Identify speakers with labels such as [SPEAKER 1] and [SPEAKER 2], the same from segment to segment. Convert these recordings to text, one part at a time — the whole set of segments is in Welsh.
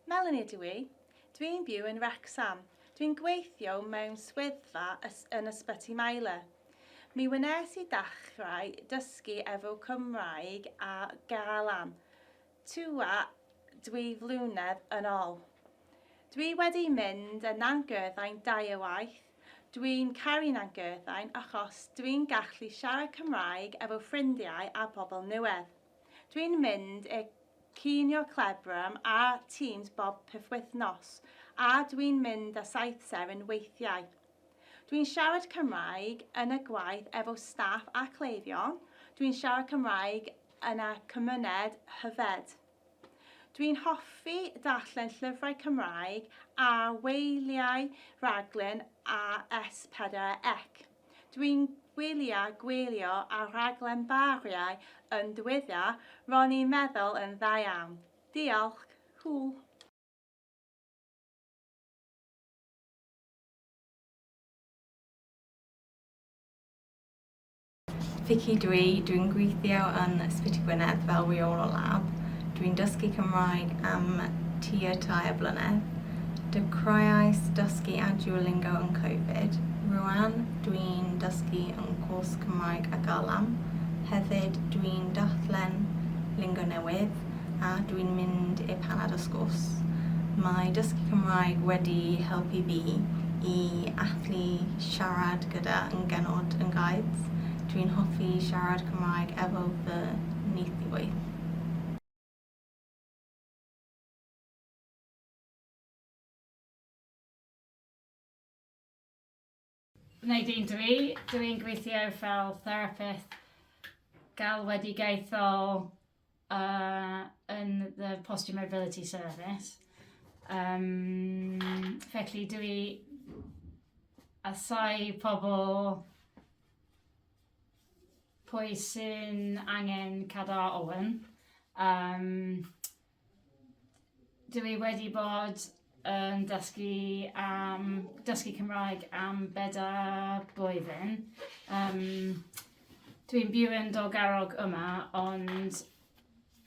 [SPEAKER 1] Melanie ydw i. Dwi'n byw yn Wrecsam. Dwi'n gweithio mewn swyddfa yn Ysbyty Maelor. Mi wnes i ddechrau dysgu efo Cymraeg a Galan. Tua dwy flynedd yn ol. Dwi wedi mynd yn Nantgyrthaen dau o waith, dwi'n caru Nantgyrthaen achos dwi'n gallu siarad Cymraeg efo ffrindiau a pobl nuedd. Dwi'n mynd i'r cinio clebran a Teams bob pythwythnos a dwi'n mynd a Saith Seren weithiau. Dwi'n siarad Cymraeg yn y gwaith efo staff a cleifion, dwi'n siarad Cymraeg yn y cymuned hyfed. Dw i'n hoffi darllen llyfrau Cymraeg a wylio'u rhaglen ar S4 ec. Dw i'n gwylio gwylio ar rhaglen Bariau yn diwedda, ro'n i'n meddwl yn dda iawn. Diolch! Hwyl! Fici ydw i, dwi'n gweithio yn Ysbyty Gwynedd fel rheolwr lab. Dwi'n dysgu Cymraeg am tua tair blynedd. Dechreuais dysgu ar Duolingo yn Covid. Rŵan, dwi'n dysgu yn cwrs Cymraeg a Galam. Hefyd, dwi'n darllen lingo newydd a dwi'n mynd i'r paned a sgwrs. Mae dysgu Cymraeg wedi helpu fi i allu siarad gyda yn genod yn guides dwi'n hoffi siarad cymraeg efo fy neithiwr. Gwneud un dw i, dw i'n gweithio fel therapydd galwedigaethol A yn the Posture Mobility Service. Um, felly dwi i asau pobl pwy sy'n angen cadw Owen. Um, Dw i wedi bod yn dysgu am... dysgu Cymraeg am bedair blwyddyn. Yym, dw i'n byw yn Dolgarrog yma, ond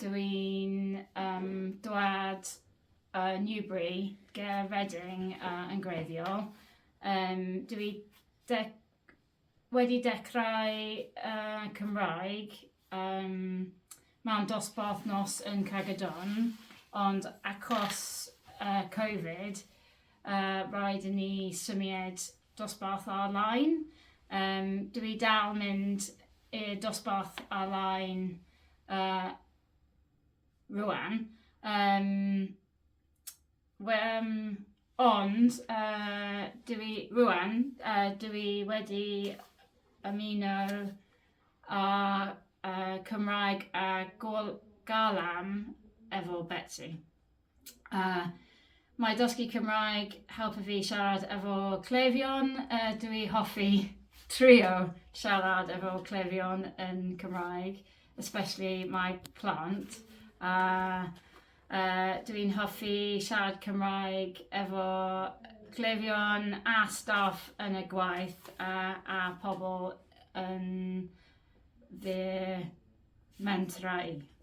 [SPEAKER 1] dw i'n yym dwad o Newbury ger Reading yy yn gwreiddiol. Yym, dw i deg... Wedi dechrau Cymraeg mewn dosbarth nos yn Cragyddon ond achos covid raid i ni symied dosbarth ar-line. Dw i dal mynd i'r dosbarth ar-line rwan. Wmm, ond yy dw i... rŵan yy dw i wedi ymuno â yy Cymraeg a Gol- Galan efo Betsi. A mae dysgu Cymraeg helpu fi siarad efo cleifion, yy dw i hoffi trio siarad efo cleifion yn Cymraeg, especially my plant a Yy dw i'n hoffi siarad Cymraeg efo cleifion a staff yn y gwaith a a pobl yn fy mentrau i.